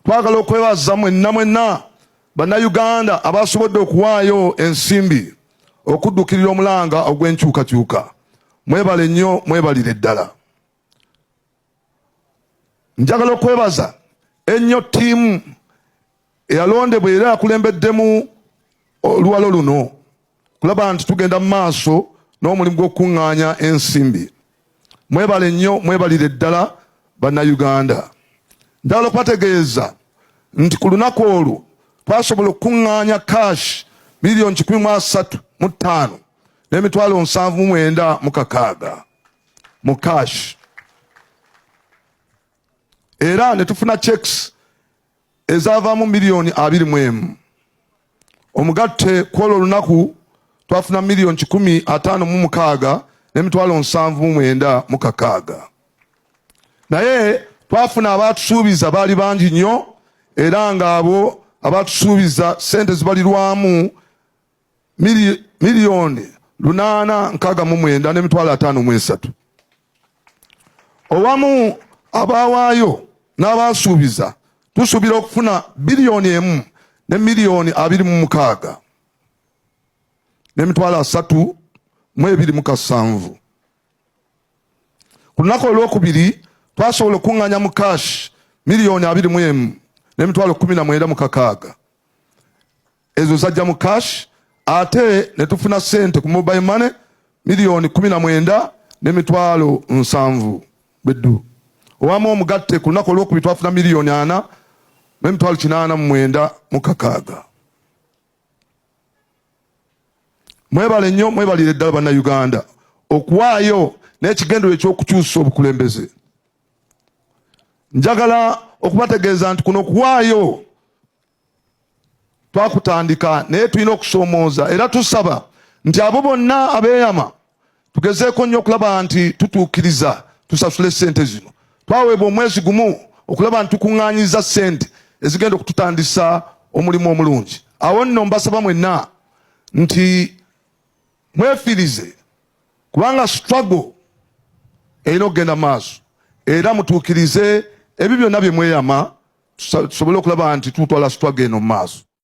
Twagala okwebaza mwenna mwenna bannayuganda abaasobodde okuwaayo ensimbi okuddukirira omulanga ogw'enkyukakyuka. Mwebale nnyo, mwebalire ddala. Njagala okwebaza ennyo ttiimu eyalondebwa era yakulembeddemu oluwalo luno. kulaba nti tugenda mu maaso n'omulimu gw'okukuŋŋaanya ensimbi. Mwebale nnyo, mwebalire ddala Bannayuganda. Njagala okubategeeza nti ku lunaku olwo twasobola okukuŋŋaanya cash miliyoni kikumi mu asatu mu ttaano n'emitwalo nsanvu mu mwenda mu kakaaga mu cash era ne tufuna checks ezaavaamu miliyoni abiri mu emu. Omugatte kw'olwo olunaku twafuna miliyoni kikumi ataano mu mukaaga n'emitwalo nsanvu mu mwenda mu kakaaga. Naye twafuna abaatusuubiza baali bangi nnyo era ng'abo abaatusuubiza ssente zibalirwamu miliyoni lunaana nkaaga mu mwenda n'emitwalo ataano mu esatu owamu abaawaayo n'abaasuubiza tusuubira okufuna biliyoni emu ne miliyoni abiri mu mukaaga n'emitwalo asatu mu ebiri mu kasanvu ku lunaku olwokubiri twasobola okuŋŋanya mu kaashi miliyoni abiri mu emu n'emitwalo kumi na mwenda mu kakaaga ezo zajja mu cash ate ne tufuna sente ku mobile money miliyoni kumi na mwenda ne mitwalo nsanvu beddu owamu omugatte ku lunaku olwokubiri twafuna miliyoni ana ne mitwalo kinaana mu mwenda mu kakaaga mwebale nnyo mwebalire ddala bannayuganda okuwaayo n'ekigendero ekyokukyusa obukulembeze njagala okubategeeza nti kuno kuwaayo twakutandika naye tulina okusoomooza era tusaba nti abo bonna abeeyama tugezeeko nnyo okulaba nti tutuukiriza tusasule sente zino twaweebwa omwezi gumu okulaba nti tukuŋŋaanyiza sente ezigenda okututandisa omulimu omulungi awo nno mbasaba mwenna nti mwefirize kubanga struggle erina okugenda maaso era mutuukirize ebyo byonna bye mweyama tusobole okulaba nti tutwala struggle eno maaso.